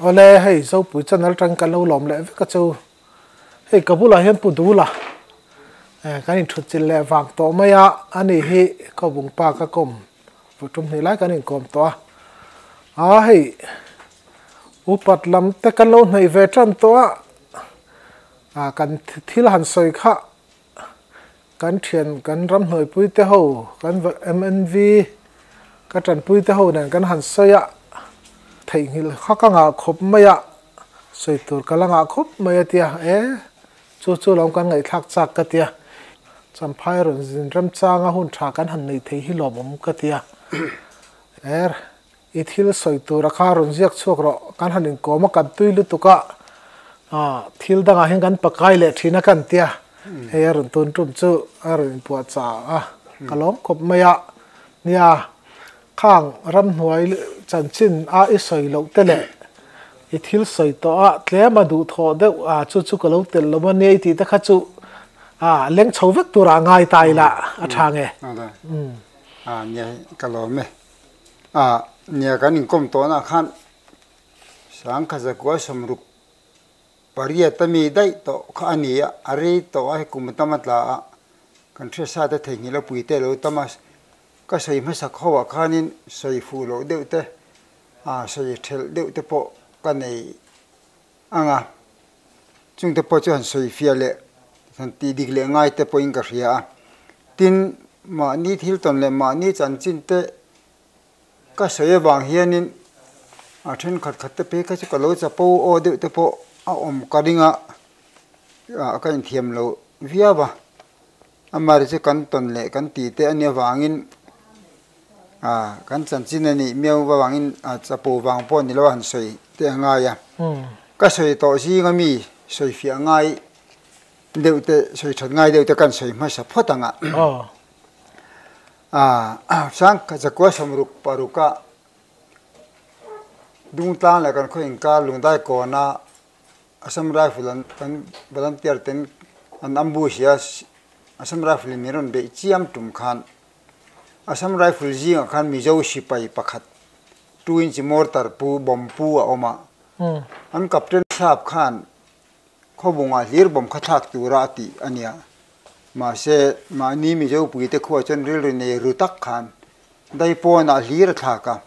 Awle hei Zopui channel atang kan lo lawm leh vek a chu. Hei ka bulah hian Pu Dula eh kan inthut chilh leh vang tawh mai a, a ni hi Khawbung pa ka kawm vut tum hnih lai kan inkawm tawh a. Aa hei upat lam te kan lo hnaih ve tan tawh a, aa kan thil han sawi kha. kan thian kan ramhnuai pui te ho kan mnv ka tanpui te ho nen kan han sawi a, theihnghilh kha ka ngah khawp mai a, sawi tur ka la ngah khawp mai a tia e chu chu lo kan ngaihthlak chak ka tia, Champhai rawn zin remchanga hun tha kan han nei thei hi lawmawm ka tia er. I thil sawi tura kha rawn ziak chhuak rawh, kan han inkawm a kan tui lutuk a, thil dangah hian kan pakai leh thin a ka han tia, hei a rawn tun tum chu a rawn inpuah chang a, ka lawm khawp mai a nia, khang ramhnuai chanchin a i sawi loh te leh i thil sawi tawh a tlem a duh thawh deuh a chu chu ka lo tel lawm a nia i tih te kha chu a leng chho vek tura a ngai ta ila a tha nge. Nia hi ka lawm e. ah nia kan inkawm tawhna ah khan Sangkha Zakual Sawmruk pariat ami daih tawh kha a nia, a rei tawh a, hei kum tam a tla a, kan hriatsa te theihnghilh a puite lo tam a, ka sawi hmasak ho ah khanin sawi fuh loh deuh te, sawi ṭhelh deuh te pawh ka nei. ang a, chungte pawh chu han sawi fia leh han tih dik leh ngai te pawhin ka hria a, tin, mahni thil tawn leh mahni chanchinte ka sawi avang hianin a thenkhat khat te phei kha chu ka lo chapo aw deuh te pawh a awm ka ring a, ka inthiam loh viau a. Amari chu kan tawn leh kan ti te ania vangin ah kan chanchin a nih miau avangin ah chapo vang pawh ni lo a han sawi teh a ngai a. Ka sawi tawh zing a mi sawi fiah ngai deuh te sawi that ngai deuh te kan sawi hmasa phawt ang a. Ah chang ka chakua sam ruk paruk a Dungtlang leh kan khaw inkar Lungdai kawna Assam Rifle an kan volunteer ten an ambush a Assam Rifle in min rawn beih chiam tum khan Assam Rifle zingah khan Mizo sipai pakhat two inch mortar pu bomb pu a awm a an captain sahab khan khawbungah hlir bomb kha thlak tura a tih a nia. Mahse, mahni Mizo puite khuaah chuan rilru nei ru tak khan Daipawnah hlir a thlak a,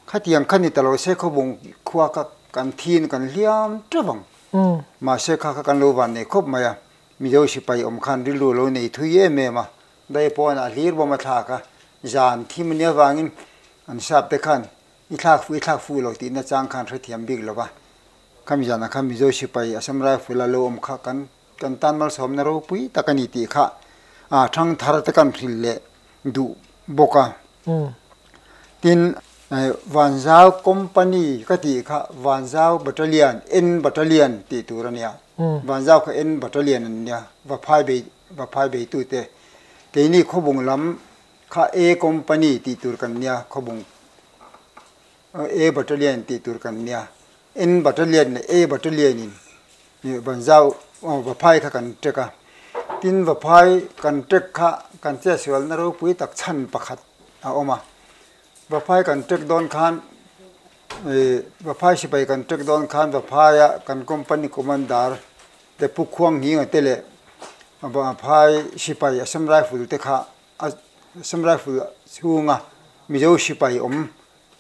khatiang kha ni ta lo se khawbung khua kha kan thin kan hliam tep ang. Mahse kha kha kan lo van nei khawp mai a, Mizo sipai awm khan rilru lo nei thui em em a, Daipawnah hlir bawm a thlak a, zan thim ania avangin an sapte khan i thlak fuh i thlak fuh lo tihna chang khan hrethiam bik lo va, khami zanah khan Mizo sipai Assam Rifle-a lo awm kha kan Kan tan malsawmna ropui tak a ni tih kha a thang thar te kan hril leh duh bawk a. Tin, Vanzau Company ka tih kha Vanzau Battalion, N Battalion tih tur a nia. Vanzau kha N Battalion an nia, va phai bei, va phai beitute. Keini khawbung lam kha A Company tih tur kan nia, khawbung. A Battalion tih tur kan nia N Battalion leh A Battalion in Banzau va phai kha kan ṭek a, tin va phai kan ṭek kha kan chhiatsualna ropui tak chhan pakhat a awm a, va phai kan ṭek dawn khan ih va phai sipai kan ṭek dawn khan va phaia kan company commander te Pu Khuangngi te leh va phai sipai Assam Rifle te kha Assam Rifle chhunga Mizo sipai awm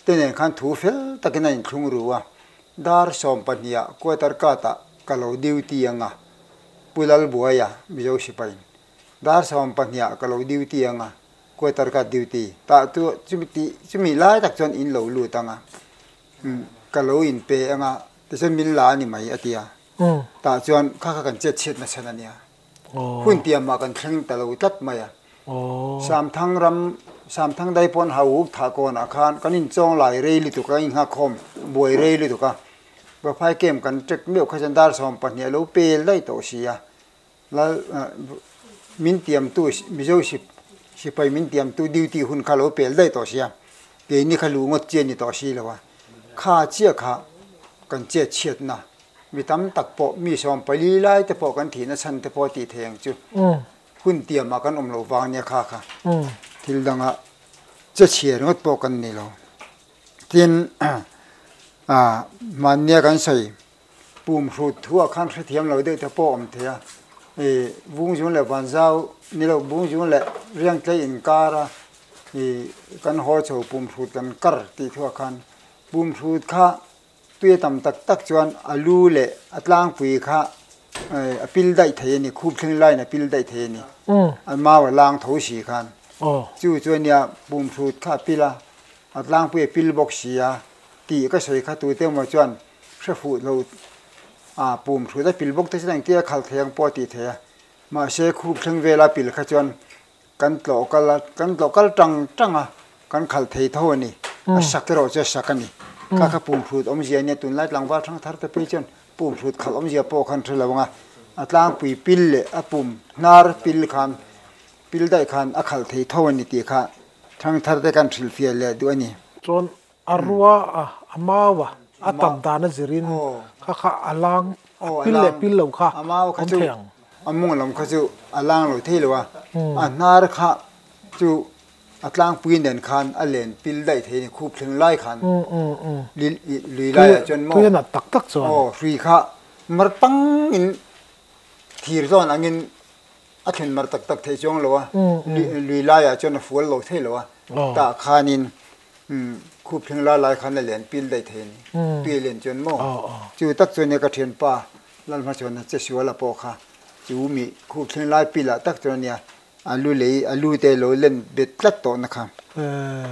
te nen khan thu fel takin a inthlung ru a, dar sawm pahniha quarter kata ka lo duty anga Pu Lalbuaia Mizo sipain dar sawm pahniha ka lo duty anga quarter kat duty tah chu chumi tih chumi lai tak chuan in lo lut anga ka lo in pe anga tichuan min la a ni mai a tia tah chuan kha kha kan chet chhiat nasa ania. Hun piam ah kan thleng ta lo tlat mai a. Samthang ram, Samthang Daipuan hau uk thah kawn ah khan kan in chawng lai rei lutuk a, in nghakhawm buai rei lutuk a. Va phai kem kan tek meuh kha chuan dar sawm pahnih a lo pel daih tawh si a. Lal min tiam tu, Mizo si, sipai min tiam tu duty hun kha a lo pel daih tawh si a. Keini kha lu ngawt chian ni tawh si lo a. Kha chiah kha kan chet chhiat na Mi tam tak pawh mi sawm pali lai te pawh kan thihna chhan te pawh tih theih ang chu hun tiam ah kan awm lo vang nia kha kha thil dang ah che chhiar ngawt pawh kan ni lo tin ah mahn nia kan sawi pum hrut thu ah khan hrethiam lo deuh te pawh awm thei a i vung zung leh van zau ni lo vung zung leh riang tlei in kar a i kan haw chho pum hrut kan kar tih thu ah khan pum hrut kha Tui tam tak tak chuan a lu leh a tlangpui kha a pil daih thei a ni, khup thleng laiin a pil daih thei a ni. A mau a lang tho si khan. Chu chu a nia, pumhrut kha a pil a, a tlangpui a pil bawk si a, tih ka sawi kha tute maw chuan hre fuh lo a, pumhrut a pil bawk te chuan engtia khalh thei ang pawh a tih theih a. Mahse khup thleng vela pil kha chuan kan tlawh kal a kan tlawh kal tang tang a kan khalh thei tho a ni a sak erawh chu a sak a ni kha kha pum hrut awmzia nia tunlai tlangval thangthar te pawh hi chuan pum hrut khalh awmzia pawh kha an hre lo ang a a tlangpui pil leh a pum hnar pil khan pil daih khan a khalh thei tho a ni tih kha thangthar te kan hrilhfiah leh duh a ni. A rua a, a mau a, a tam dan a zir in kha kha a lang pil leh pil lo kha awm thei ang. A mawng lam kha chu a lang lo thei lo a, a hnar kha chu a tlang puiin dan khan a len pil daih thei a ni, khup thleng lai khan lui lai ah chuan maw aw hrui kha mar pang in thir zawn ang in a thlen mar tak tak thei chuang lo a, lui lai ah chuan a fual lo thei lo a, tah khan in Khup thleng lalai khan a lian pil daih thei a ni. Tui a lian chuan maw? Chu tak chuan nia ka thianpa Lalhma chuan che suala pawh kha chu mi khup thleng lai pilah tak chuan nia a lu lei a lu te lo len bet tlat tawh na kha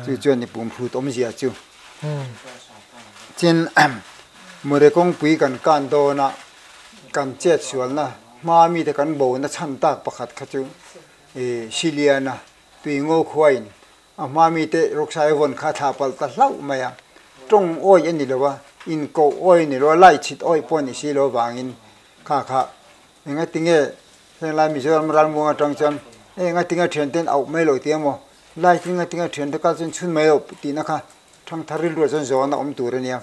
chu chuan ni pum hlut awmzia chu chin Mawre kawngpui kan kan dawn a kan chet sual na hma mi te kan bo na chhan tak pakhat kha chu Siliana Tuingo khuain A hma mite Ruksai vawn kha thla palh ta hlauh mai a, tawng awi a ni lo a, inkoh awi a ni lo a, lait chhit awi pawh a ni si lo vangin kha kha engatinge henglai Mizoram ralmuang atang chuan engating a thian ten auh mai lo tih emaw, lait hi ngatin a thian te kal chuan chhun mai lo tihna kha thangthar rilruah chuan zawn a awm tur a nia,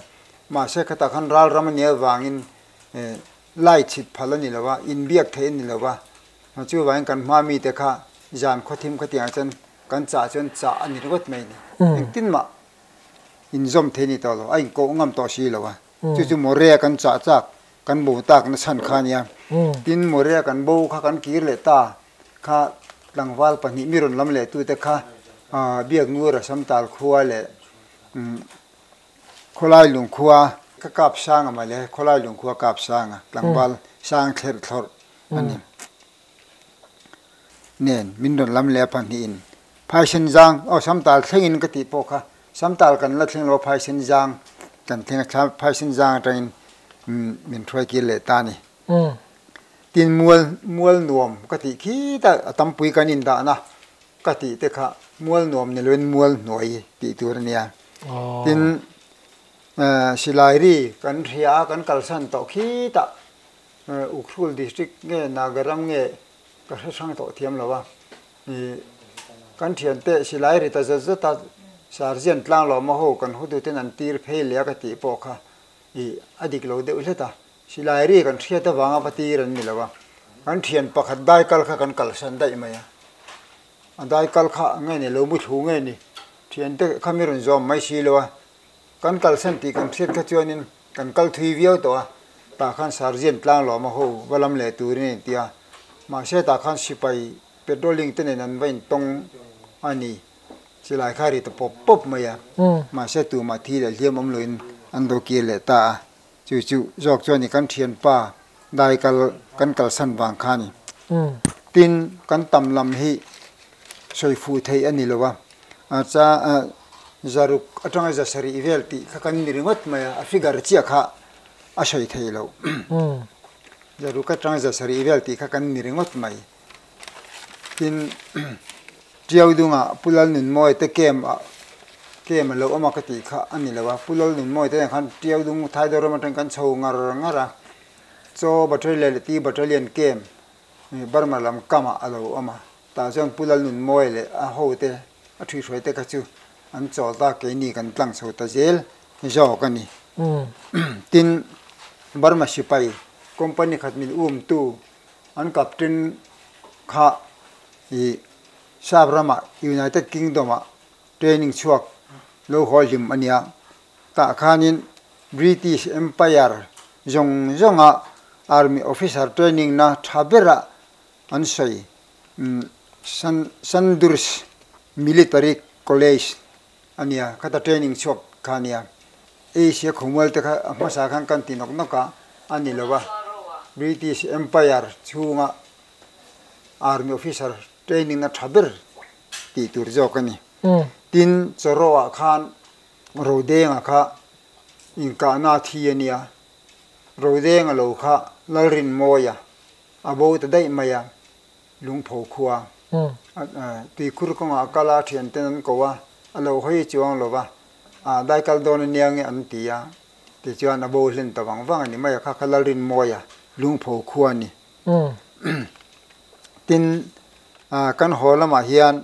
mahse khatah khan ralram a nia vangin eh. Lai chhit phal a ni lo va, inbiak theih a ni lo va, a chu vangin kan hmaa mite kha zan khawthim kha tiang chuan kan chah chuan chah a ni ringawt mai a ni. Engtin mah inzawm thei a ni tawh lo, a inkawh ngam tawh si lo va, chu chu Morea kan chah chak kan bo tak na chhan kha a nia, tin Morea kan bo kha kan kir leh ta kha tlangval pahnih mi rawn lam leh tute kha Biaknu Rasamtal khua leh Khawlai Lungkhua ka kap sang a male, Khawlai Lungkhua kap sang a, tlangval sang thlerh thlawrh a ni. Nen min rawn lam leh a pahnih in Phaisen Zang, aw Samtal thleng in ka tih pawh kha Samtal kan la thleng lo a Phaisen Zang kan thleng a, Phaisen Zang atang in min hruai kir leh ta a ni. Tin Mual, Mual Nuam ka tih khit a, a tam pui kan in dah na ka tih te kha Mual Nuam ni lo in Mual Hnuai tih tur a ni a. tin silairi kan hria a kan kalsan tawh khit a Ukhrul district nge Naga ram nge ka hre thrang tawh thiam lo a ni kan thian te silairi ta zet zet a sergeant tlang lawma ho kan hotu ten an tir phei leh a ka tih pawh kha ih a dik lo deuh hlet a silairi kan hriat avanga va tir an ni lo a kan thian pakhat dai kal kha kan kalsan daih mai a. A dai kal kha nge ni lo muthlu nge ni thian te kha mi rawn zawm mai si lo a, kan kalsan tih kan hriat kha chuan in kan kal thui viau tawh a, tah khan Sergeant tlang lawm a ho va lam leh tur in a inti a, mahse tah khan sipai patrolling te nen an va in tawng a ni, chilai kha a ri ta pawp pawp mai a, mahse tumah thi leh hliam awm lo in an do kir leh ta a. Chu chu zawk chuan i kan thianpa dai kal kan kalsan vang kha a ni. Tin, kan tam lam hi sawi fuh theih a ni lo a, chah a zaruk atanga zasarih vel tih kha kan ni ringawt mai a, a figure chiah kha a sawi thei lo. Zaruk atanga zasarih vel tih kha kan ni ringawt mai. tin ṭiau dunga pu Lalnunmawi te camp ah camp alo awm a ka tih kha a ni lo a, pu Lalnunmawi te nen khan ṭiau dung Thaidor ram aṭang kan chho ngar ngar a, chaw battalion leh ti battalion camp Burma lam kam ah alo awm a, tah chuan pu Lalnunmawi leh a ho te a ṭhihruai te kha chu an chawl ta a keini kan tlang chho ta zel zawk a ni. Tin Burma sipai company khat min um tu, An captain kha ih Siam ramah United Kingdom ah training chhuak lo hawi hlim a nia. Tah khanin British Empire zawng zawng ah army officer training na tha bera an sawi. Sandhurst Military College A nia, khata training chhuak kha a nia. Asia khawmualte kha a hmasa khan kan ti nawk nawk a, a ni lo a, British Empire chhunga Army officer training na tha ber tih tur zawk a ni. Tin, Chawrawah khan Rodenga kha inkahna a thi a nia. Rodenga lo kha Lalrinmawia a bo ta daih mai a, Lungpho khua tuikhur kawngah a kal a, thianten an ko a, a lo hawi chuang lo va, ah dai kal dawn aniang e an ti a, tichuan a bo hlen ta vang vang a ni, mai a kha kha Lalrinmawih a lungpho khua a ni. Tin, kan haw lamah hian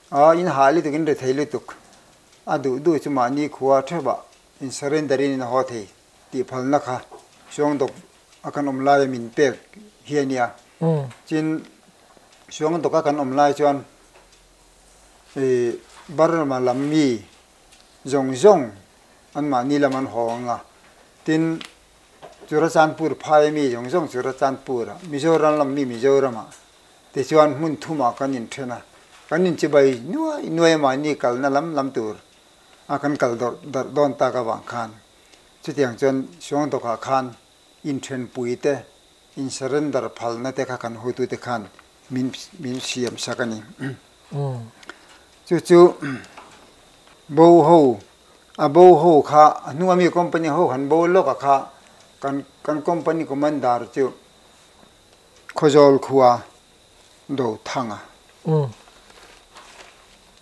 A inhah lutuk in rethei lutuk a duh duh chu mahni khua thevah in surrender in in haw thei tih phalna kha Suangdawk a kan awm laia min pek hi a nia. Chuan Suangdawk a kan awm lai chuan Burma lam mi zawng zawng an mahni lam an haw ang a, tin Churachandpur phaia mi zawng zawng Churachandpur ah, Mizoram lam mi Mizoram ah, Tichuan hmun thumah kan inthen a, kan inchibai nuai nuai mahni kalna lam lam tur a kan kal darh darh dawn tak avang khan chutiang chuan Suangdawkah khan inthenpui te, insurrender phalna te kha kan hutu te khan min min siam sak a ni. Chu chu bo ho, a bo ho kha a hnunga mi company ho han bo lawkah kha kan kan company commander chu Khawzawl khua do thanga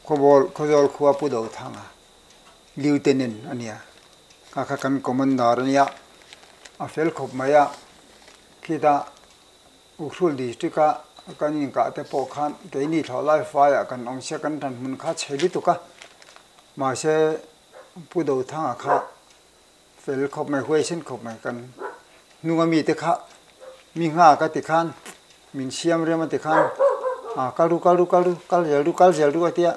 Khawbawl Khawzawl khua pu do thanga Lieutenant a nia a kha kan Commander a nia a fel khawp mai a khita Ukrul District a kan inkah te pawh khan keini thlawh lai fai ah kan awm sia kan tan hmun kha chhe lutuk a mahse pu do thanga kha fel khawp mai huai hrin khawp mai kan hnunga mite kha mi nghah ka ti khan min siam rem a ti khan a kal ru kal ru kal ru kal zel ru kal zel ru a tia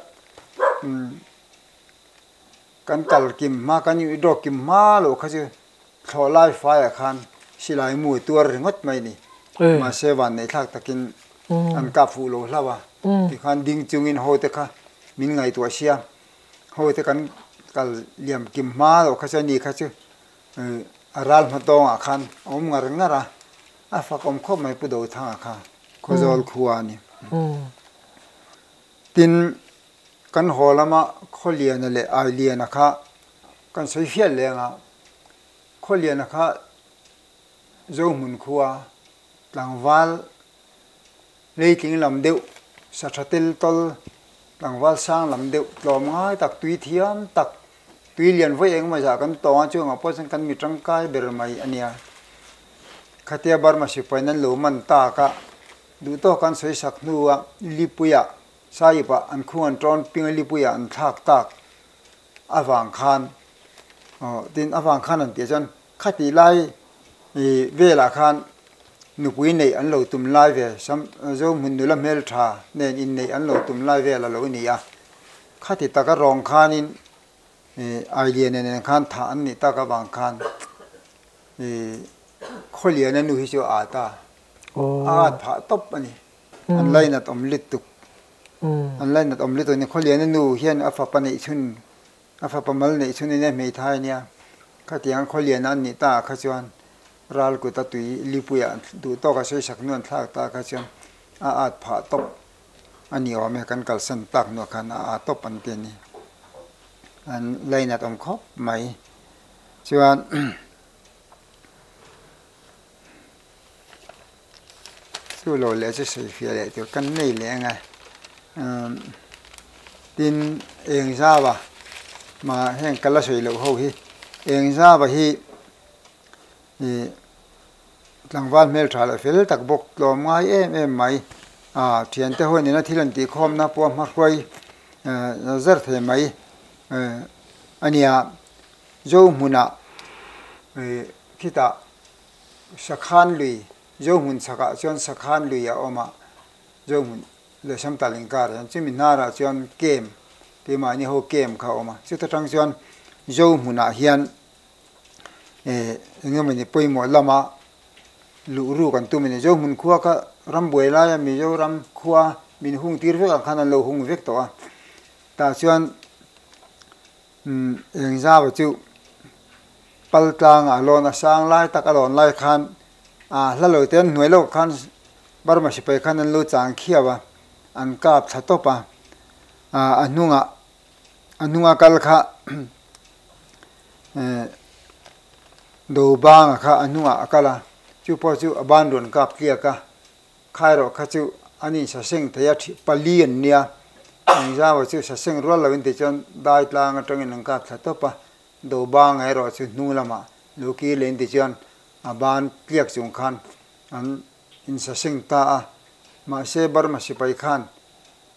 kan kal kim hma kan i draw kim hma lo kha chu thlawh lai fai ah khan silai mu a tuar ringawt mai a ni mahse van neih thlak takin an kap fuh lo hlauh a tikhan ding chungin ho te kha min ngaihtuah siam. hawite kan kal liam kim hma loh kha chu ani kha chu eh a ral hma tawngah khan a awm ngar ngar a a fakawm khawp mai pu dothanga kha khaw zawl khua a ni tin kan haw lama khaw liana leh ai liana kha kan sawi hriat leng a khaw liana kha zohmun khua tlangval Hleitling lam deuh, Satha tel tawl, tlangval sang lam deuh, tlawm ngai tak, tui thiam tak, tui lian vawi eng mawzah kan tawng a, chungah pawh chuan kan mi tangkai ber mai a nia. Khatia Burma sipain an lo man takah duhtawk an sawi sak hnua Lipuia, Sahib-a an khung an tawn ping a, Lipuia an thlak tak avang khan, aw tin avang khan an tih ah chuan Khatih lai velah khan nupui neih an lo tum lai ve, Zohmun nula hmeltha nen inneih an lo tum lai vel a lo ni a. Khati taka rawng khanin Ailiana nen khan thah an nih tak avang khan Khawliana nu hi chu a at a, a at phah tawp a ni. An lainat awm lutuk, an lainat awm lutuk a ni. Khawliana nu hian a fapa neihchhun A fapa mal neih chuan ine hmeithai nia kha tiang khawliana an nih ta ah kha chuan ral kuta tui Lipuia an duh tawk a seisak hnu an thlak ta ah kha chuan a at phah tawp a ni awm e kan kalsan tak hnu ah khan a at tawp an ti a ni an lainat awm khawp mai chuan Chu lo leh chu sawifiah leh tur kan nei leh ang e. Umm tin eng zava mah heng ka la sawi loh ho hi eng zava hi ih tlangval hmeltha leh fel tak bawk tlawm ngai em em mai a thiante ho nena thil an tih khawmna pawh a hmahruai eh zar thei mai eh a nia. Zo hmunah ih khitah. Sakhan lui, Zohmun chhakah chuan sakhan lui a awm a, Zohmun leh Sangtal inkar hian chumi hnarah chuan kem, keimahni ho kem kha a awm a. Chuta tang chuan Zohmunah hian enge mawni pawimawh lama luhru kan tum a ni. Zohmun khua kha ram buai laia Mizoram khua min hung tir vek ang khan an lo hung vek tawh a. Tah chuan. Eng zau chu pal tlanga a lawn a sang lai tak a lawn lai khan aa hla lo te an hnuai lawk khan Burma sipai khan an lu chang khiau a, an kap thla tawp a, a hnungah a hnunga kal kha do banga kha a hnungah a kal a, chu pawh chu a ban rawn kap tliak a, Khaerawh kha chu an insaseng thei a, ṭhip pali an nia. Engzama chu saseng rual lo in tih chuan Daitlang aṭangin an kap thla tawp a, Dobanga erawh chu hnung lamah lu kir leh in tih chuan a ban tliak chung khan an insaseng ta a. Mahse Burma sipai khan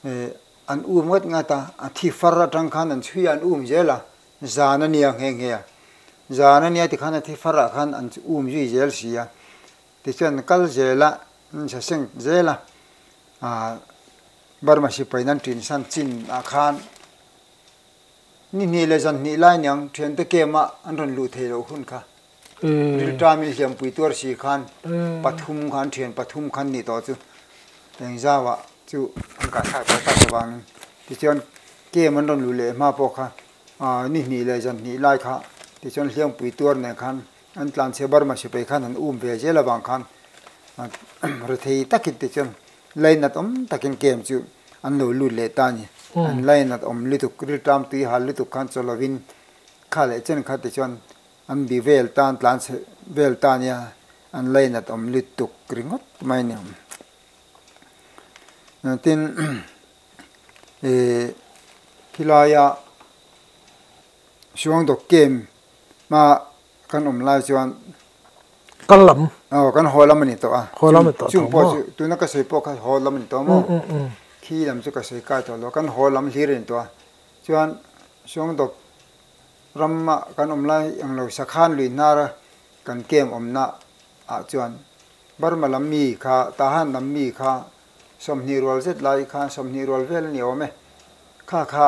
an um ngat ngat a, a thi far aṭang khan an chhuia an um zel a, zan a nia nghe nghe a. Zan a nia tikhan a thi farah khan an um zui zel si a. Tichuan kal zela an insa seng zel a, Burma sipai nan trin san Chin ah khan ni hnih leh zan hnih lai niang thiante kem ah an rawn luh thei loh hun kha rilṭa milhliampui tuar si khan pathum kha an thian pathum khan nih tawh chu eng zau ah chu an kahthlak tawh tak avang in tichuan kem an rawn luh leh hma pawh kha ni hnih leh zan hnih lai kha tichuan hliampui tuar nen khan An tlan chhe Burma sipai khan han um ve zel avang khan rethei takin ti chuan lainat awm takin camp chu an lo lut leh ta a ni. An lainat awm lutuk, rilṭam tui hal lutuk khan chaw lovin kha leh chen kha ti chuan an bia vel tan, tlan chhe vel ta nia an lainat awm lut tuk ringawt mai ni awm. Tin, khilaiah Suangdawk camp hma kan awm lai chuan kal lam aw kan haw lam ani tawh a haw lam ani tawh chung pawh chu tuna ka sawi pawh kha haw lam ani tawh a maw khi lam chu ka sawi kai tawh lo kan haw lam hlir ani tawh a chuan Suangdawk ram ah kan awm lai ang lo sakhan lui hnar a kan camp awmna ah chuan Burma lam mi kha Tahan lam mi kha sawmhnih rual zet lai kha sawmhnih rual vel a ni awm e kha kha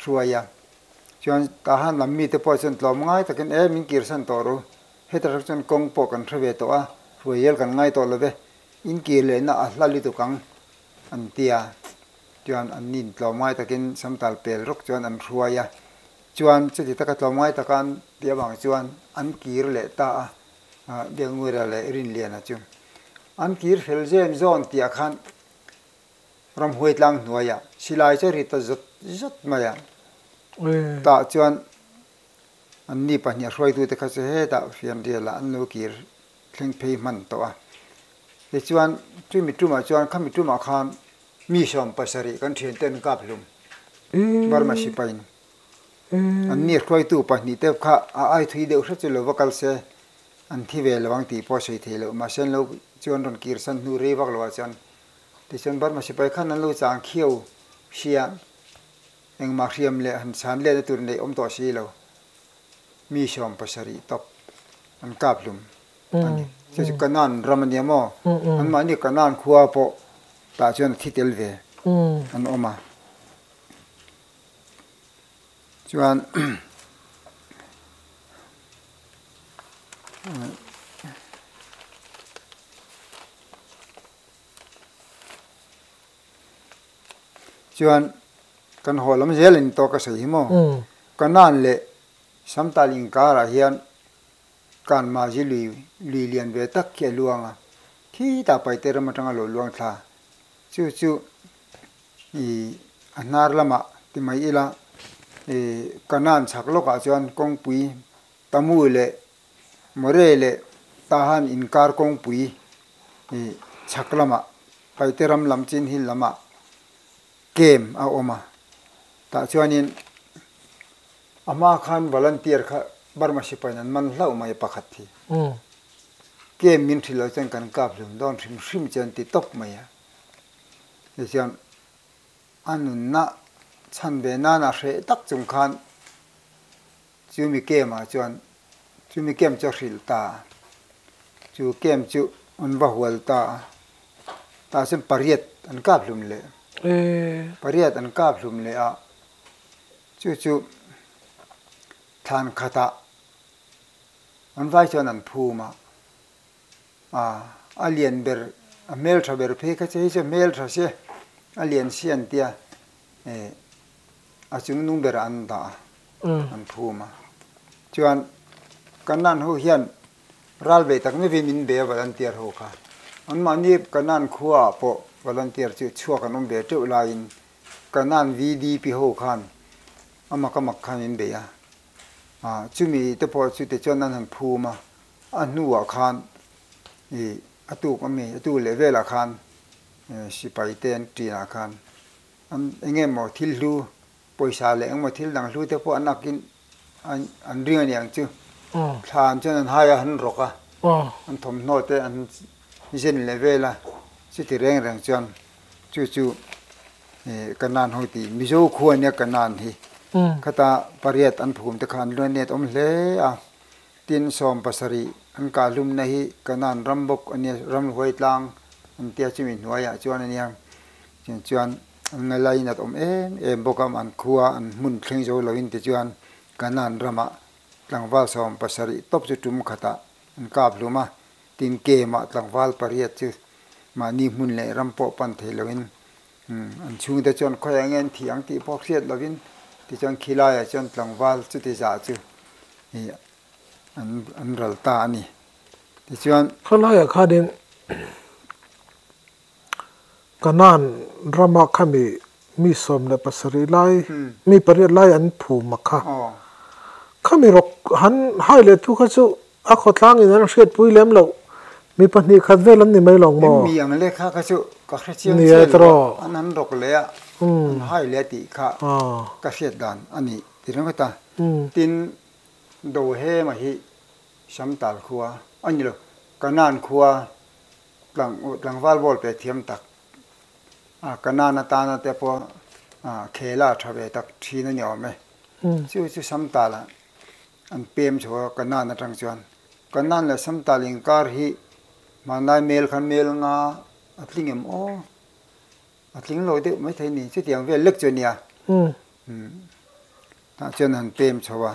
hruai a, chuan tah han lam mite pawh chuan tlawm ngai takin e min kirsan tawh ru, heta hrawk chuan kawng pawh kan hre ve tawh a, hruai hial kan ngai tawh love, in kir lehna a hla lutuk ang, an ti a, chuan an in tlawm ngai takin Samtal pel rawk chuan an hruai a, chuan chuti taka tlawm ngai taka an tih avang chuan an kir leh ta a, Biakanguira leh Rinliana chu an kir fel zem zawn tih ah khan ramhuai tlang hnuaia silai chu a ri ta zat zat mai a, tah chuan an mi pahnih a hruaitute kha chu hetah fianriala an lo kir thleng phei hman tawh a, tichuan chu mi tumah chuan kha mi tumah khan mi sawm pasarih kan thiante an kap hlum, Burma sipain an mi hruaitu pahnih te kha a aithui deuh hre chu lo va kal se, an thi ve lo ang tih pawh a sawi thei loh, mahse an lo chuan rawn kirsan hnu rei vak lohah chuan Tichuan Burma sipai khan an lo chang khiau hriam, engmah hriam leh han chhan leh na tur neih awm tawh si lo, mi sawm pasarih tawp an kap hlum a ni. Chu chu Canaan ram a nia maw? Anmahni Canaan khua pawh tah chuan a thi tel ve an awm a. Chuan chuan kan haw lam zel in tawk ka sawi hi maw ka nan leh samtal in kar ah hian ka an mahzi lui lui lian ve tak khi a luang a khi ta paite ram atanga lo luang thla chu chu i a hnar lamah ti mai ila i Canaan chhak lawkah chuan kawngpui Tamu leh More leh Tahan inkar kawngpui i chhak lamah Paiteram lam Chinhill lamah kem a awm a, tah chuanin a hma khan volunteer kha Burma Sipain an man hlauh mai a pakhat hi kem min hrilh lo chuan kan kap hlun dawn hrim hrim chuan ti tawp mai a. Nihliam a nunna chhan ve nana hreh tak chung khan chu mi kema chuan chu mi kem chu a hrilh ta a, chu kem chu an va hual ta a, tah chuan pariat an kap hlum leh, pariat an kap hlum leh a, chu chu thlan khatah an vai chuan an phum a. a a lian ber a hmeltha ber phei kha che hei chu a hmeltha se a lian se an tia eh a chung nung berah an dah a an phum a chuan kan nan ho hian ral ve tak mai vin min be a volunteer ho kha an mahni kan nan khua ah pawh volunteer chu chhuak an awm ve teuh laiin kan nan VDP ho khan a mak a mak khan min bei a ah chumi te pawh chu tichuan an han phum a, a hnuah khan i a tuk ami a tu leh velah khan sipai te an ṭinah khan an eng nge maw thil hlu pawisa leh eng maw thil dang hlu te pawh an ak in an an ring aniang chu thla an chuan an hai a han rawk a an thawmhnaw te an zen leh vel a chuti reng reng chuan chu chu ka nan ho ti mizo khu ania ka nan hi khata pariat an phum te khan luan net awm hle a tin sawm pasarih an kah hlum na hi ka nan ram bawk ania ram huai tlang an tia chu mi hnuai ah chuan ania chin chuan an ngaila in at awm em em bawk a man khu a an hmun thleng zo lo in ti chuan ka nan ram ah tlangval sawm pasarih tawp chu tum khat ah an kap hlum a. Tin, kmah tlangval pariat chu mahni hmun leh ram pawh pan theih loin an chhungte chuan khawiah enge an thi ang tih pawh hriat lovin tichuan khilaiah chuan tlangval chuti zah chu an ral ta a ni. Tichuan. Khawlaiah khanin. Canaan rama kha mi mi sawm leh pasarih lai, mi pariat lai an phum a kha. Kha mi rawk han hai leh tu kha chu a khawtlangin an hriatpui lem loh, mi pahnih khat vel an ni mai lo maw? Em mi ang le kha kha chu ka hre chiang chiah lo a, an han rawk leh a, an hai leh a tih kha ka hriat dan a ni ti reng vat a. Tin, Dohema hi Samtal khua, aw ni lo, Canaan khua, Tlangval vawl pek thiam tak a, ka nan atana te pawh a khel a tha ve tak thin a ni awm e. Chu chu Samtal ah an pem thu a, ka nan atang chuan ka nan leh Samtal inkar hi hmanlai mel kha mel nga a tling em aw, a tling lo deuh maithei ni, chutiang vel lek chu a nia, tah chuan an pem chho a.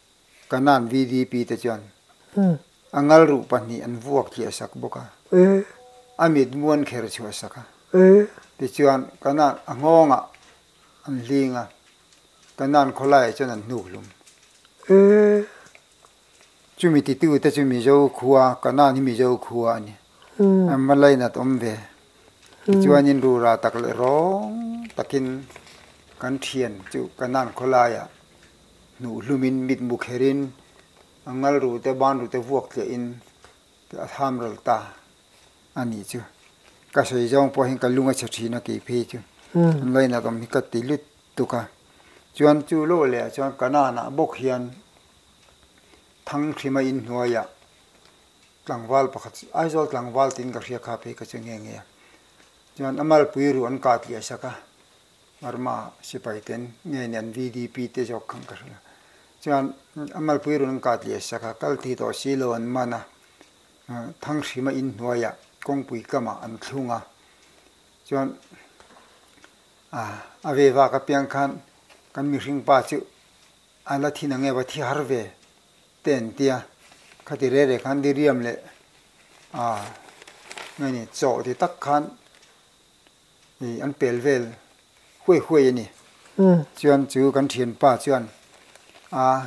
Kanan VDP te chuan a ngalruh pahnih an vuak chiah sak bawk a, a mit muan kher chhuah sak a. Tichuan Kanan a nghawngah an hling a, Kanan khawlaiah chuan an hnuk hlum. Chumi titute chu Mizo khua, Kanan hi Mizo khua a ni. A Malay nat awm ve. Tichuanin rura tak leh rawng takin kan thian chu Kanan khawlaiah Hnuh hlumin mit mu kherin a ngalrute banrute vuak tleh in a tham ral ta a nih chu. Ka sawi zawng pawh hian ka lung a chhe thin a kei phei chu. An lo inat awm hi ka ti lut tuk a. Chuan chu law leh ah chuan ka nan ah bawk hian Thangthlima in hnuai ah tlangval pakhat, Aizawl tlangval tin ka hria kha phei ka chu nge nge a. Chuan a malpui ruh an kah tliah sak a. Burma sipai ten nge nen VDP te zawk khan ka hrilh a, chuan a malpui rawn kat leh sak a, kal thei tawh si lo an man a, Thangrima in hnuaia kawngpui kamah an thlung a, chuan a ve vak apiang khan kan mihring pa chu a la thin ange va thi har ve te an tia, khati reh reh khan Diriam leh nge ni chawhti tak khan, Ih an pel vel huai huai a ni. Chuan chu kan thianpa chuan Aa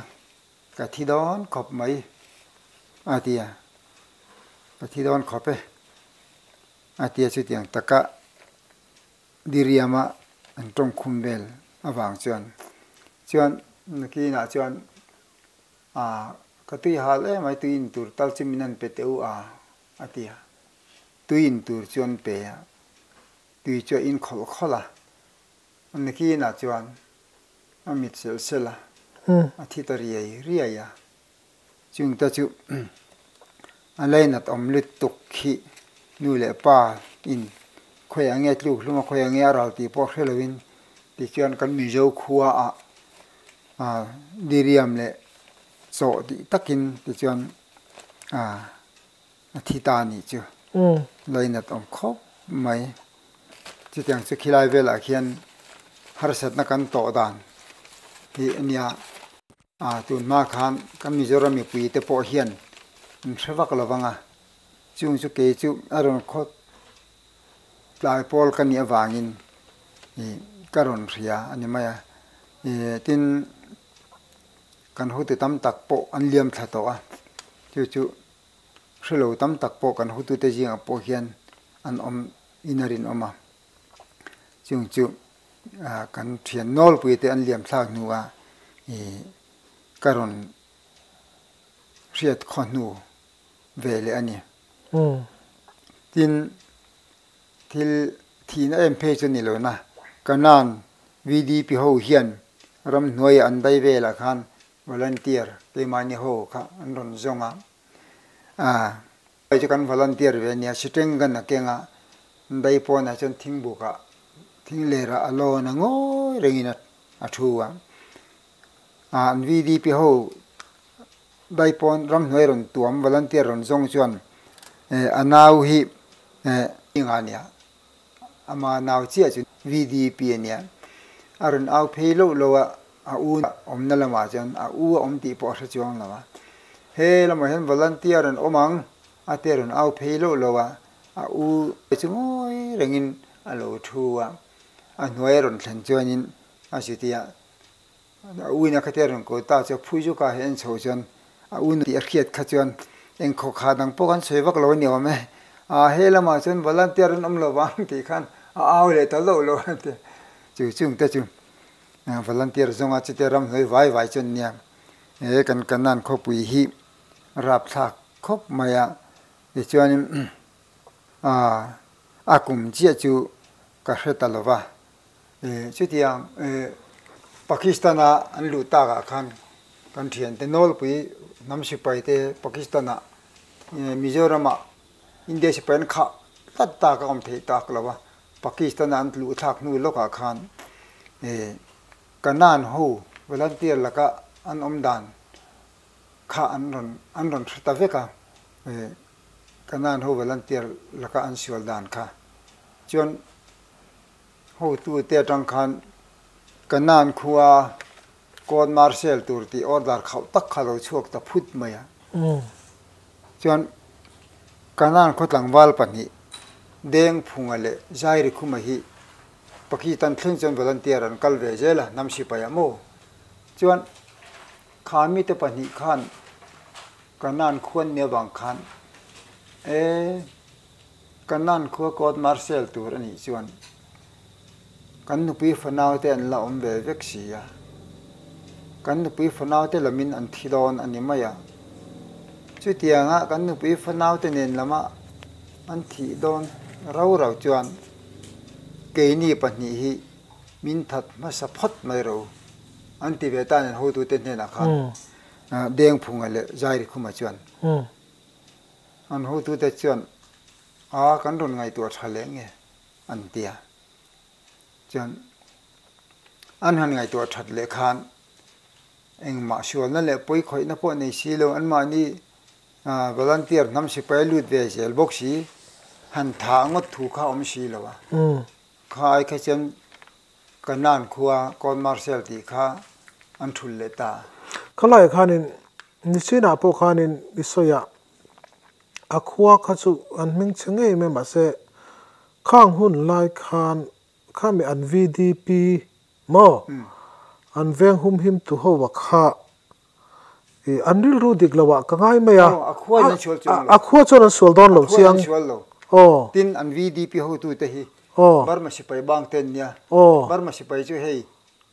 ka thi dawn khawp mai a ti a, ka thi dawn khawp e a ti a, chutiang taka Diriama an tawng khum vel avang chuan chuan Nakinah chuan Aa ka tui hal e mai tuiin tur tal chu min han pe teh u a. A ti a. Tui in tur chuan pe a, tui chu a in khawlh khawlh a. A nakinah chuan a mit selh selh a, a thit a riai riai a. Chung te chu a lainat awm lutuk khi nu leh pa in khawiah a nge tluk hlum a, khawiah a nge a ral tih pawh hre lo in ti chuan kan Mizo khua ah a diriam leh chawh dih tak in ti chuan Ah, a thi ta a nih chu. Umm. Lainat awm khawp mai. Chutiang chu khilai velah khian harsatna kan tawh dan tih a nia. Ah, tun hma khan kan Mizoram mipui te pawh hian an hre vak lo vang a. Chung chu kei chu a rawn khawt tlai pawl ka nih avangin ih ka rawn hria a ni mai a. Eh, tin Kan hutu tam tak pawh an liam thla tawh a, chu chu hre lo tam tak pawh kan hutute zingah pawh hian an awm in a rinawm a, chung chu kan thian nawlpuite an liamthlak hnua ka rawn hriat khawhnu ve leh a ni. Tin, Thil thihna em phei chu ni loin a, ka nan VDP ho hian ramhnuaia an dai velah khan volunteer keimahni ho kha an rawn zawng a, ah hei chu kan volunteer ve a nia, si teng kan a keng a, dai pawnah chuan thing bukah, thing lerah a lawn a ngawi rengin a thu a, ah an VDP ho Bai pawn ramhnuai rawn tuam volunteer rawn zawng chuan eh a nau hi eh. Eng a nia? Ama nau chiah chu VDP a nia. A rawn au phei loh loh a, a u a awmna lamah chuan a u a awm tih pawh a hre chuang lo a. He lamah hian volunteer an awm ang, a te rawn au phei loh loh a, a u te chu ngawi rengin a lo thu a, a hnuai a rawn thlen chuanin a chutia. A uin a khatia rawn kawl ta chuan phui zawkah hian en chho chuan a un tih a hriat kha chuan eng khaw khat ang pawh kan sawi vak lo ni awm e. A he lamah chuan volunteer an awm lo vang tih khan a au leh ta loh lo an ti a. Chu chung te chu volunteer zawnga chute ramhlawih vai vai chuan nia he kan Kanan khawpui hi rapthlak khawp mai a, tichuanin a kum chiah chu ka hre ta lo va, Chutiang Pakistana an luh takah khan kan thiante nawlpui hnam sipai te Pakistana Mizorama India sipai an khah tlat tak a awm theih tak lo a, Pakistana an luh thlak hnu lawkah khan Kanan ho volunteer laka an awm dan kha an rawn an rawn hre ta vek a, Kanan ho volunteer laka an sual dan kha chuan Hotu te atang khan ka nan khua court martial tur tih order khauh tak kha lo chhuak ta phut mai a. Chuan ka nan khaw tlangval pahnih Dengphunga leh Zairikhuma hi Pakistan thleng chuan volunteer an kal ve zel a, hnam sipai ah maw. Chuan kha mite pahnih khan ka nan khuan nia vang khan e. Kan nan khua court martial tur a nih chuan kan nupi fanau te an la awm ve vek si a, kan nupi fanau te lam in an thi dawn a ni mai ang. Chutiang ah kan nupi fanau te nen lam ah an thih dawn rau rau chuan kei ni pahnih hi min that hmasa phawt mai rau an ti ve ta nen ho tu te hnen ah khan Dengphunga leh Zairikhuma chuan. An hutute chuan, A, kan rawn ngaihtuah tha leh nge? an ti a. Chuan an han ngaihtuah that leh khan engmah sualna leh pawi khawihna pawh nei si lo, anmahni volunteer hnam sipai lut ve zel bawk si, han thah ngawt thu kha awm si lo a. Kha ai kha chuan Canaan khua Court Martial tih kha an thul leh ta. Khalaia khanin Nicene-ah pawh khanin i sawi a, a khua kha chu an hming chhe ngei mai mahse, khang hun lai khan khami an VDP maw? An veng humhim tu ho a kha An rilru dik lo ah ka ngai mai a. Aw, a khuain an sual chuang lo. A khua chuan an sual dawn lo chiang. A khuain an sual lo. Aw. Tin an VDP hotu te hi. Aw. Burma sipai bang te an nia. Aw. Burma sipai chu hei.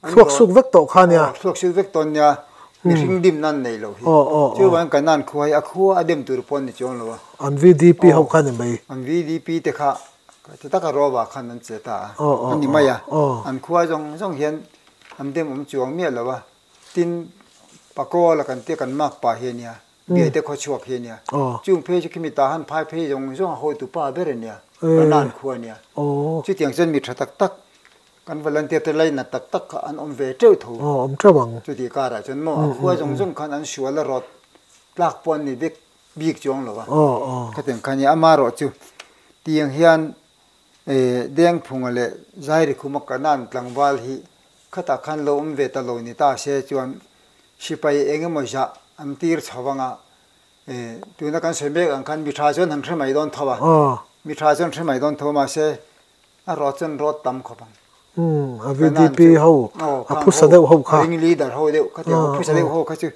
Thluak suk vek tawh kha nia. Aw, thluak suk vek tawh nia. Umm. Mihring dim nan nei lo hi. Aw, aw, aw. Chu vang kan nan khua hi a khua a dem tur pawh an ni chuang lo a. An VDP ho kha ni mai. Aw, an VDP te kha ti tak a rova khan an che ta a. Aw, aw, aw. An ni mai a. Aw. An khua zawng zawng hian an dem awm chuang miah lo a. Tin, Paco la kan tia kan mak pa hi a nia, Biate khaw chhuak hi a nia. Chung phei chu khimi ta han phai phei zawng zawng a hawitu pa ber a nia, Banan khua a nia. Chutiang chuan mi tha tak tak, kan volunteer te lainat tak tak kha an awm ve teuh tho. Chutih karah chuan maw, a khua zawng zawng khan an sual a rawt tlak pawh an ni bik bik chuang lo va. Khatiang kha a nia. Amaherawhchu, tiang hian E, Dengphunga leh Zairikhuma ka nan tlangval hi khatah khan lo awm ve ta lo ni ta se chuan sipai eng emaw zah an tir chho vanga e, tuna kan sawi mek ang khan mi tha chuan han hre mai dawn tho a, mi tha chuan hre mai dawn tho mahse a rawt chuan rawt tam khawp ang. Umm, a VDP ho, a phusa deuh ho kha. Ring leader ho deuh kha te, a phusa deuh ho kha chu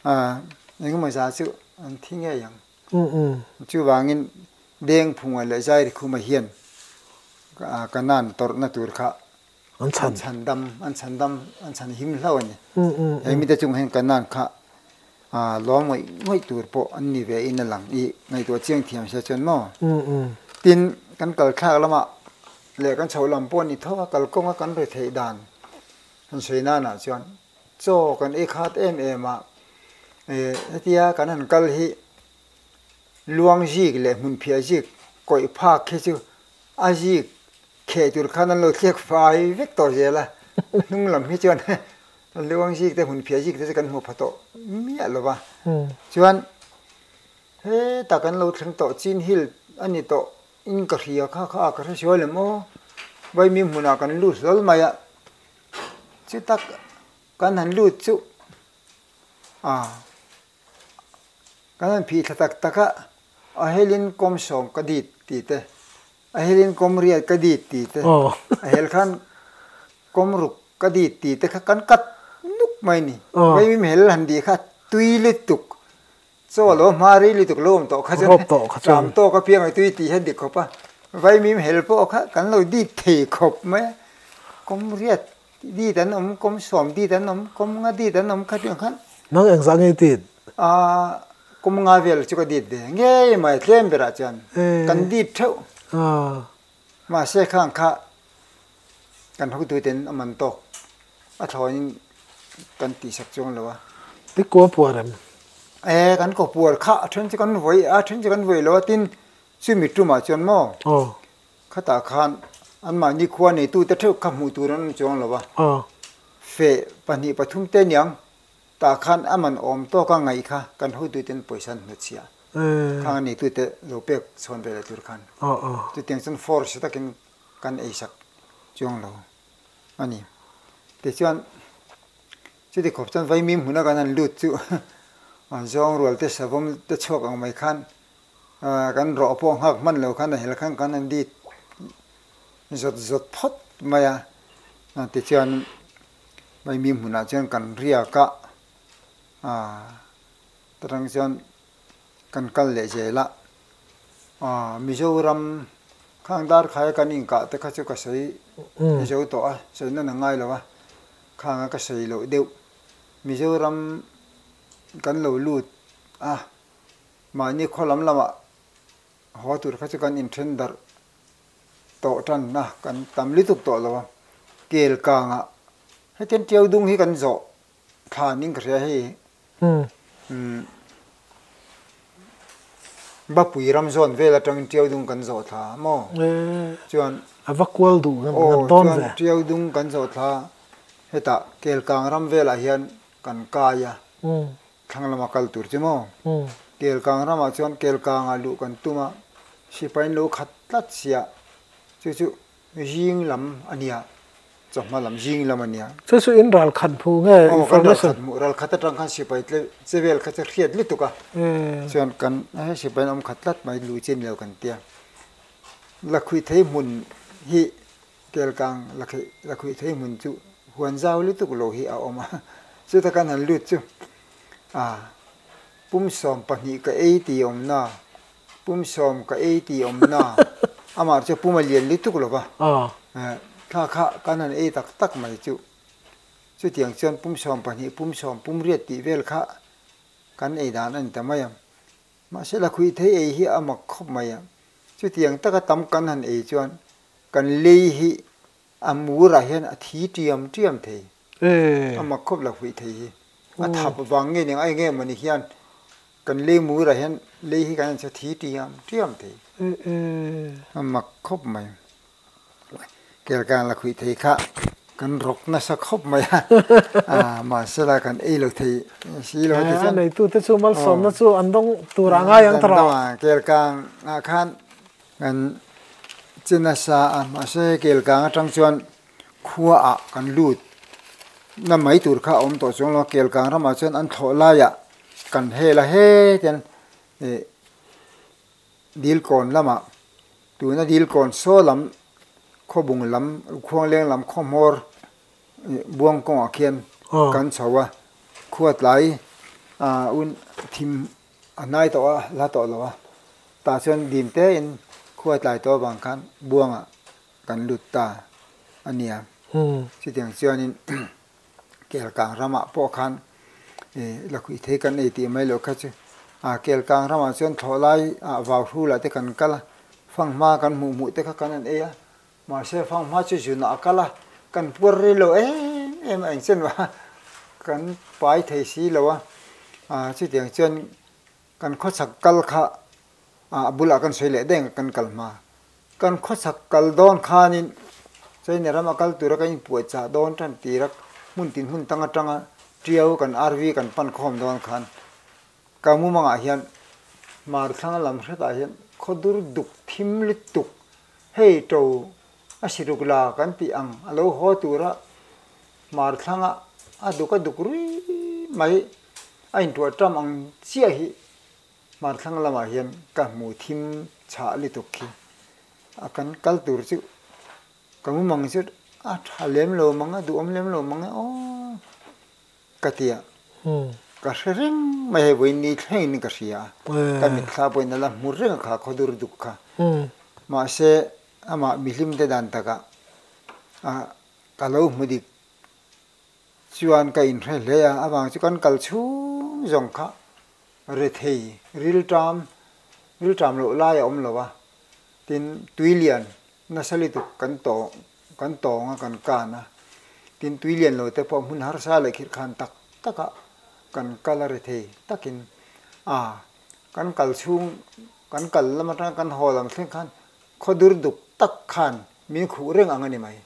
a eng emaw zah chu an thi ngei ang. Chuvangin, beng phunga leh zairi khuma hian Canaan tawrhna tur kha an chhan dam, an chhan dam, an chhan him hlau a ni. He mite chungah hian Canaan kha lawm ngawih ngawih tur pawh an ni ve in a lang i ngaihtuah chiang thiam a si a chuan maw? Tin, kan kalthlak lamah leh kan chhoh lam pawh a ni tho a, kalkawnga kan retheih dan kan sawi nanah chuan, Chaw kan ei khat em em a, eh hetia kan han kal hi luang zik leh hmunphiah zik kawih phak khi chu a zik kheh tur khan an lo thlek fai vek tawh zel a, a hnung lam hi chuan luang zik te hmunphiah zikte chu kan hmu pha tawh miah lo va, chuan hetah kan lo thleng tawh chin hill a ni tawh in ka hria kha kha a ka hre sual em aw vaimim hmunah kan lut hlawl mai a. chu tak kan han lut chu ah kan han phih thla tak tak a, a helin kawm sawm ka dit ti te, a helin kawm riat ka dit ti te, a hel khan kawm ruk ka dit ti te kha kan kat nuk mai a ni, vaimim hel han tih kha tui lutuk. Chaw a lo hma ri lutuk lo awm tawh kha chuan tlam tawk apiang a tui tih hian dik khawp a, Vaimim hel pawh kha kan lo dit thei khawp mai a, Kawmriat dit an awm, Kawmsuam dit an awm, Kawmnga dit an awm kha tiang khan. Nang eng zah ngei dit? A, Kawmnga vel chu ka dit ve ngei mai, tlem berah chuan kan dit theuh. Mahse khang kha. kan hotu ten a man tawk a thlawin kan tih sak chuang lo a ti kaw puar em e kan kaw puar kha a then chu kan vawi a then chu kan vawi lo a tin chu mi tumah chuan maw aw khata khan an mah nikhua nei tu te theuh kha hmuh tur an awm chuang lo a aw fe pahnih pathum te niang ta khan a man awm tawk a ngaih kha kan hotu ten pawisa an hmu chhia khang a nei tu te lo pek chhawn ve leh tur khan aw aw chutiang chuan force takin kan ei sak chuang lo a ni. Tichuan, chuti khawp chuan vaimim hmuna kan han lut chu zawng rual te savawm te chhuak ang mai khan kan rawh pawh nghak hman lo khan a hel khan kan han dit zawt zawt phawt mai a, tichuan vaimim hmunah chuan kan riak a, aa chutang chuan kan kal leh zel a, Aaa Mizoram khang darkhai kan inkah te kha chu ka sawi ni zo tawh a, sawi nana ngai lo a, khang a ka sawi loh deuh. Mizoram kan lo lut a, mahni khaw lam lamah haw tur kha chu kan inthen darh tawh tan a, kan tam lutuk tawh lo a. Kel kangah hetian tiau dung hi kan zawh Thla an ding ka hria hei va pui ram zawn vel atangin ṭiau dung kan zawh thla maw chuan a va kual duh ngam ngam dawn ve chuan ṭiau dung kan zawh thla hetah kelkang ram velah hian kan kai a thlanglama kal tur chu maw kelkang ramah chuan kelkanga luh kan tum a sipain lo khat tlat sia chu chu Zing lam a nia, chawhma lam zing lam a nia. Chu chu in ral khat hmuh nge information. Aw kan ral khat hmuh, ral khat atang khan sipai te che vel kha chu hriat lutuk a, chuan kan he sipai an awm khat tlat mai lu chin lo kan tia. La khuih theih hmun hi kelkang la kheih la khuih theih hmun chu huan zau lutuk lo hi a awm a, chuta kan han lut chu a pumsawm pahnih ka ei ti awmna Pum sawm ka ei ti awmna amah chu pum a lian lutuk lova thla kha kan han ei tak tak mai chu. Chutiang chuan pum sawm pahnih, pum sawm, pum riat tih vel kha kan ei dan a ni ta mai a. Mahse la khuihthei ei hi a mak khawp mai a. Chutiang taka tam kan han ei chuan kan lei hi A murah hian a thi tiam tiam thei. A mak khawp lo hmih thei hi. A thap vang nge ning a enge emaw ni hian kan lei murah hian lei hi kan en chu thi tiam tiam thei. A mak khawp mai. Kel kang la khuih thei kha kan rawk nasa khawp mai a. Mahse la kan ei lo thei si lo ti chuan. Neitute chu malsawmna chu an dawng tur ah a ngai ang ta rang. Kel kang ah khan Kan chin a sa a, mahse hei kelkang atang chuan khua ah kan lut na mai tur kha a awm tawh chuang lo, kelkang ramah chuan an thlawh lai ah kan hel a hetian ih dil kawn lam ah tuna dil kawn saw lam khawbung lam khuangleng lam khawmawr ih buang kawng ah khian kan chho a, khua tlai ah un thim. A hnai tawh a la tawh lo a, tah chuan dim te in khua tlai tawh avang khan buanga kan lut ta a nia. Chutiang chuanin kel kang ramah pawh khan la khuih thei kan nei tih mai loh kha chu a kel kang ramah chuan thlawh lai ah vau hrulah te kan kal a, fanghma kan hmuh hmuh te kha kan han ei a, Mahse fanghma chu zunah a kal a, kan puar ril lo em em a engchan lo a, kan pai thei si lo a, ah chutiang chuan kan khawchhak kal kha ah a bulah kan sawi leh daih kan kal hma, kan khawchhak kal dawn khanin China ram a kal tura kan inpuahchah dawn tan tira hmun tin hmun tang atanga tiau kan arvi kan pan khawm dawn khan Ka mumangah hian Marthlanga lam hretah hian khaw dur duk thim lutuk hei to a si ruk la kan tih ang a lo haw tura Marthlanga a duk a duk rui mai a intuah ṭam ang chiah hi Marthlanga lamah hian ka hmu thim chhah lutuk khi a kan kal tur chu ka mumang chu a ṭha lem lo mang a duhawm lem lo mang e aw. Ka ti a, ka hre reng mai hei vawiin ni thlengin ka hria a, ka mitthla pawhin a la hmur reng a kha khaw dur duk kha. Mahse amah mihlimte dan takah ka lo hmu dik chuan ka in hre hle a, avang chu kan kal chhung zawng kha rethei rilṭam rilṭam loh lai a awm lo a, tin tui lian nasa lutuk kan tawh. Kan tawng a, kan kan a, tin tui lian lo te pawh hmun harsa leh khirhkhan tak takah kan kal a rethei takin a, kan kal chhung, kan kal lam atang kan haw lam thleng khan khaw dur duk tak khan min khuh reng ang a ni mai.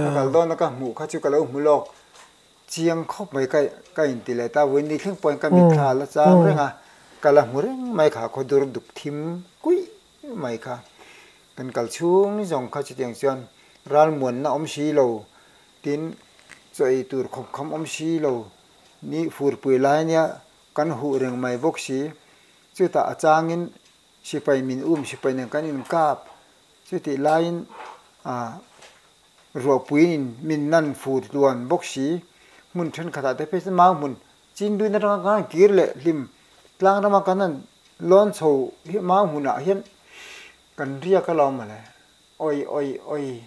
Ka kal dawn a ka hmuh kha chu ka lo hmu lawk chiang khawp mai ka ka in ti leh ta, vun ni thleng pawhin ka mitthla a la chang reng a, ka la hmu reng mai kha khaw dur duk thim kuih. Eng mai kha kan kal chhung zawng kha chutiang chuan ralmuanna awm si lo, tin chawi tur khawp kham awm si lo ni furpui lai nia kan huh reng mai bawk si. Chutah a changin sipai min um sipai nen kan inkap, chutih laiin ruahpuiin min nan fur tluan bawk si. Hmun thenkhatah te pawh chu mau hmun Chin duin atanga khan kir leh hlim tlang rama kan han lawn chho hi mau hunah hian kan riak a lo mawle, awih awih awih,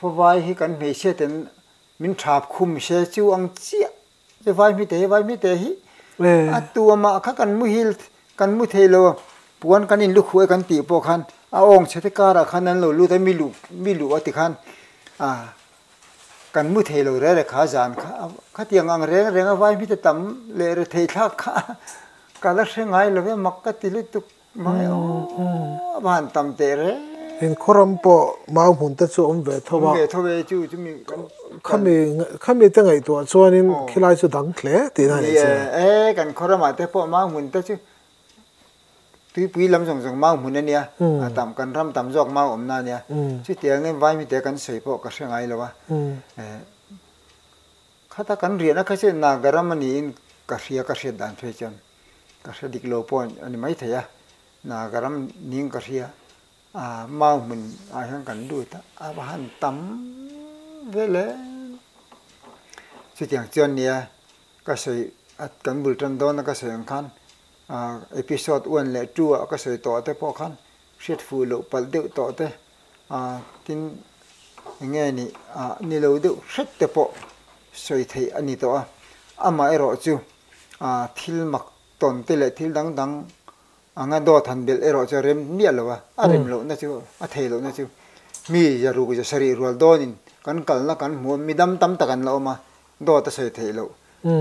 Fawai hi kan hmeichhia ten min thap khum se chu ang chiah che vai hmite hi vai hmite hi a tuamah kha kan muhil kan mu thei lo, puan kan in lu khuh e kan tih pawh khan a awngchhe te karah khan an lo lut a mi luh mi luh a tikhan a. Kan hmu thei lo rere kha zan kha khatiang ang reng renga vai hmite tam leh re thei thlak kha ka la hre ngai love mak ka ti lutuk mai aw a van tam teh reng. Heng khawram pawh mau hmun te chu awm ve tho a. Awm ve tho e chu chumi kan khami khami te ngaihtuah chuanin khilai chu dang hle tihna a ni che. Nia e kan khawramah te pawh mau hmun te chu Tuipui lam zawng zawng mau hmun a nia, a tam kan ram tam zawk mau awmna a nia, chutiang angin vai mite kan sawi pawh ka hre ngai lo a, khata kan rian a kha chuan naga ram niin ka hria ka hriat dan phei chuan ka hre dik lo pawh a ni maithei a, naga ram niin ka hria a mau hmun ah hian kan lut a a va han tam vel em chutiang chuan nia Ka sawi at kan bul tan dawn a ka sawi ang khan ah episode one leh two ah ka sawi tawh te pawh khan hriat fuh loh palh deuh tawh te ah tin enge nih ah ni lo deuh hret te pawh sawi theih a ni tawh a, amah erawh chu ah thil mak tawn te leh thil dang dang anga dawt han belh erawh chu a rem miah lo a, a rem lohna chu a thei lohna chu mi zaruk zasarih rual dawn in kan kalna kan hmu a, midam tam tak an la awm a dawt a sawi theih loh,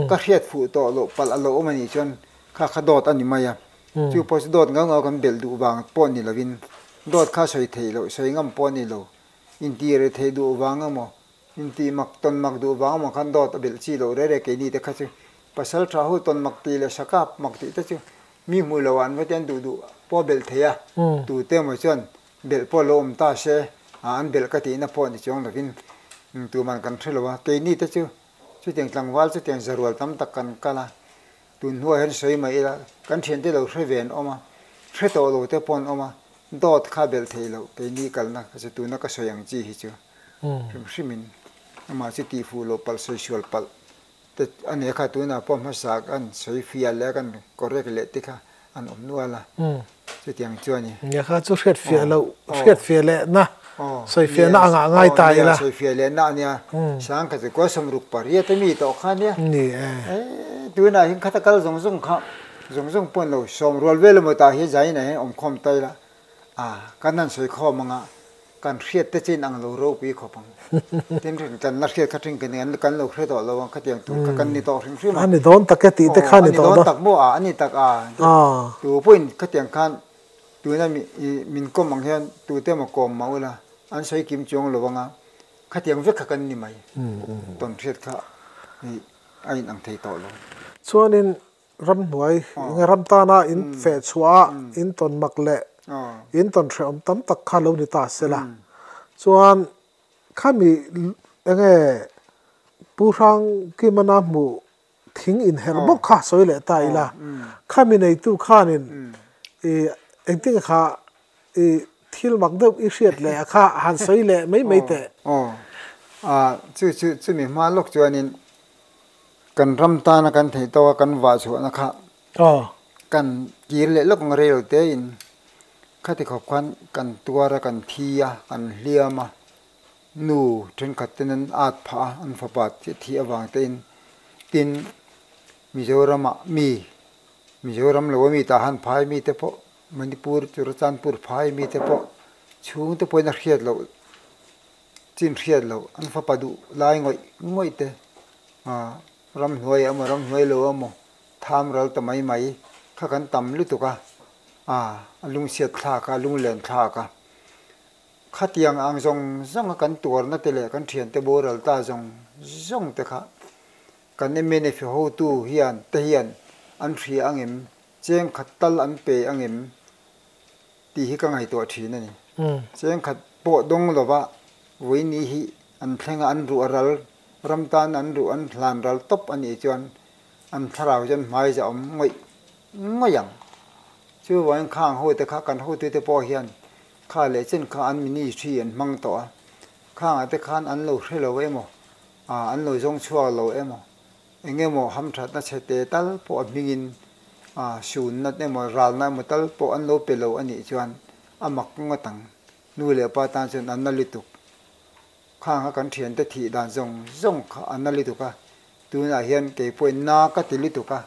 ka hriat fuh tawh loh palh a lawm anih chuan kha kha dawt a ni mai a, chu pawh chu dawt ngau ngau kan belh duh vang pawh ni lovin dawt kha sawi theih loh, sawi ngam pawh a ni lo, intih reh theih duh vang emaw, intih mak tawn mak duh vang emaw khan dawt a belh chi loh rere kei ni te kha chu pasal tha ho tawn mak tih leh sakap mak tih te chu mi hmuh loh ah an va tian duh duh pawh a belh thei a, tute maw chuan Belh pawh lo awm ta se a, an belh ka tihna pawh ni chuang lovin tuman kan hre lo a, keini te chu chutiang tlangval chutiang zarual tam tak kan kal a, tun hnuah hian sawi mah ila kan thiante lo hre ve an awm a, hre tawh lo te pawh an awm a, dawt kha belh thei loh keini kalna kha chu tuna ka sawi ang chi hi chu hrim hrimin amah chu tihfuh loh palh sawi sual palh. Te a nih kha tunah pawh hmasa kan sawi fiah leh a kan correct leh te kha an awm nual a, chutiang chuan i. Nia kha chu hriat fiah loh, hriat fiah leh na, sawi fiah na angah a ngai ta ila. Sawi fiah leh na a nia, sang kha chu kawlsam ruk pariat a mi tawh kha a nia. Ni e. Ehh tunah hian khata kal zawng zawng kha zawng zawng pawh an lo sawm rual ve lamawt ah hian zaina hian awm khawm ta ila. A, kan han sawi khawm ang a, kan hriat te chin ang lo ropi khawp ang. Tin rin kan la hriat kha thin kha nen kan lo hre tawh lo ang khatiang tur kha kan ni tawh hrim hrim a. A ni dawn tak e tih te kha ni dawn a. A ni dawn tak maw a, a ni tak a. Tû pawhin khatiang khan tuna min kawm ang hian tute maw kawm mah ula, an sawi kim chuang lo ang a, khatiang vek kha kan ni mai. Tawn hriat kha a inang thei tawh lo. Chuanin Ramhnuai enge ram tana in feh chhuah a, in tawn mak leh in tawn hrehawm tam tak kha lo ni ta se la. Chuan khami enge Pu Hrangkimana hmuh thing inher bawk kha sawi leh ta ila. Khami neitu khanin engtin nge kha. I thil mak deuh i hriat leh a kha han sawi leh mai mai teh. Aw, ah, chu chu, chumi hma lawk chuanin kan ram tana kan theih tawk a, kan vah chhuahna kha kan kir leh lawk ang rei lo tein khati khawp khan kan tuar a, kan thi a, kan hliam a, nu thenkhat ten an at phah a, an fapa chiah thih avang tein tin Mizoramah mi, Mizoram lo ami tah han phai mite pawh Manipur, Churachandpur phai mi te pawh chhung te pawhin a hriat loh, chin hriat loh, an fapa duh lai ngawih ngawih te, ram hnuai emaw ram hnuai lo emaw tham ral ta mai mai kha kan tam lutuk a, a lungsiat thlak a, a lunglen thlak a, khatiang ang zawng zawng a kan tuarna te leh kan thiante boral ta zawng zawng te kha kan MNF-i hotu hian te hian an hria ang em? Chengkhat tal an pe angem tih hi ka ngaihtuah thin a ni. Chengkhat pawh dawng lova Vawiini hi an thlenga an ruh a ral, ram tana an ruh an hlan ral tawp a nih chuan an thlarau chuan hmai zahawm ngawih ngawih ang. Chu vawin kha ang hote kha kan hotuite pawh hian kha leh chen kha an mini thi an hmang tawh a, kha angah te khan an lo hre lo emaw, an lo zawng chhuak lo emaw Eng emaw hamthatna chhe te tal pawh a hmingin sunna emaw ralna emaw tal pawh an lo pe lo a nih chuan a mak ngot ang. Nu leh pa tan chuan an nali tuk. Khang a kan thiante thih dan zawng zawng kha an nali tuk a. Tunah hian kei pawhin na ka ti lutuk a,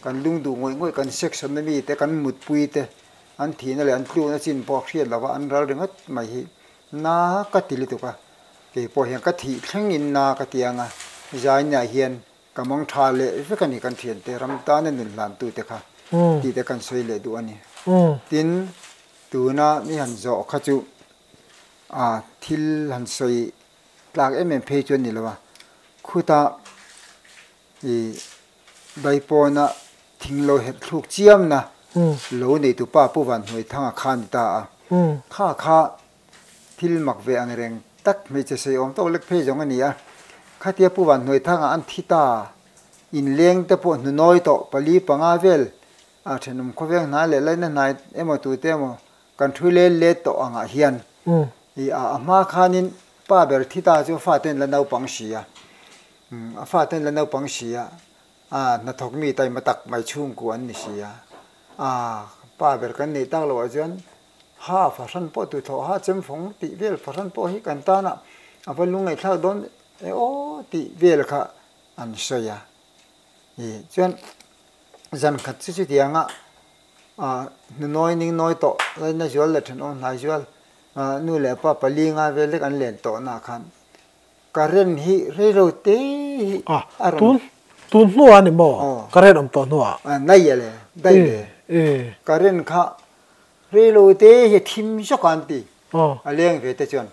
kan lung duh ngawih ngawih kan section na mite, kan mutpuite an thihna leh an tluna chin pawh a hriat lova an ral ringawt mai hi Na ka ti lutuk a, kei pawh hian ka thih thleng in na ka ti ang a, zaina hian ka mawng tha leh vek a ni kan thiante ram tana nun hlan tu te kha tih te kan sawi leh duh a ni. Tin, tuna i han zawh kha chu ah thil han sawi tlak em em phei chuan ni lo a, khuta I baipawnah thing lo herh thluk chiamna lo neitu pa Pu Van Hnuai Thang a kha ni ta a, kha kha thil mak ve ang reng tak hmeichhe sawi awm tawk lek phei zawng a ni a, khatia Pu Van Hnuai Thang a an thi ta inleng te pawh hnu nawi tawh pali panga vel a thenawm khawveng hnai leh laina hnai emaw tute emaw kan thu lel let tawh angah hian I a hma khanin pa ber thi ta chu faten la naupang si a. A fa ten la naupang sia a hnathawk mi taima tak mai chhungkua an ni sia. A pa ber kan neih tak loh ah chuan ha fahran pawh tu thlawh ha chem fawng tih vel fahran pawh hi kan tan a a va lu ngaihthlak dawn e aw tih vel kha an sawi a. I chuan zan khat chu chutiang a a hnunawi ningnawi tawh laina zual leh then awm hnai zual a nu leh pa pali nga vel lek an len tawh na khan, Ka rem hi reilo te hi a rawn. Tun tun hnu ah a ni maw? Ka rem awm tawh hnu ah. Nai a le, dai le. Ka rem kha reilo te hi thim zawk a an ti. A leng ve te chuan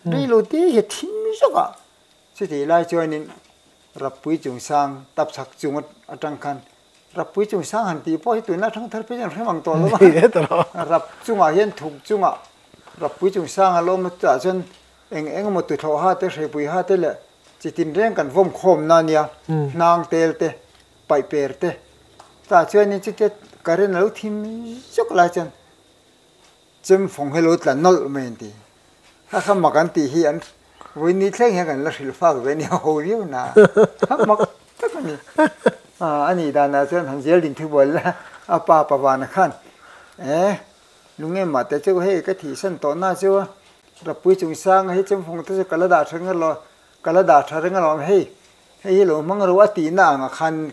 reilo te hi thim zawk a. Chutih lai chuan in Rapui Chungsang Tapchhak chunga atang khan Rapui chung sang han tih pawh hi tuna a thang thar phei hi an hrem ang tawh lo a, rap chungah hian thuk chungah rapui chung sang ala awm atangah chuan eng eng emaw tuhlawh ha te hrepui ha te leh chi tinreng kan vawm khawm na nia hnang tel te paih per te tah chuan in chutia current alo thim zawk lai chuan Chemfawng hi lo tla nawlh mai an ti. Kha kha mak an tih hi an vawi ni thleng hian kan la hrilh fak ve a ni, ho viau na kha mak tak a ni. A nih danah chuan han zel din thu buai la, a pa Pavana khan e Lunge mahte chu hei ka thih san tawh na chu Rapui chung sanga hi Chemfawng te chu ka la dah tha reng alo, ka la dah tha reng alo hei, hei hi lo hmang ero a tihna ang ah khan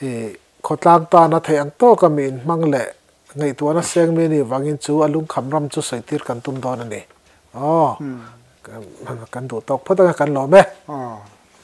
I khawtlang tan a theih ang tawk a, mi inhmang leh ngaihtuahna a seng mi ni vangin chu a lungkham ram chu sawitir kan tum dawn a ni. Aw, kan duh tawk phawt ang a, kan lawm e.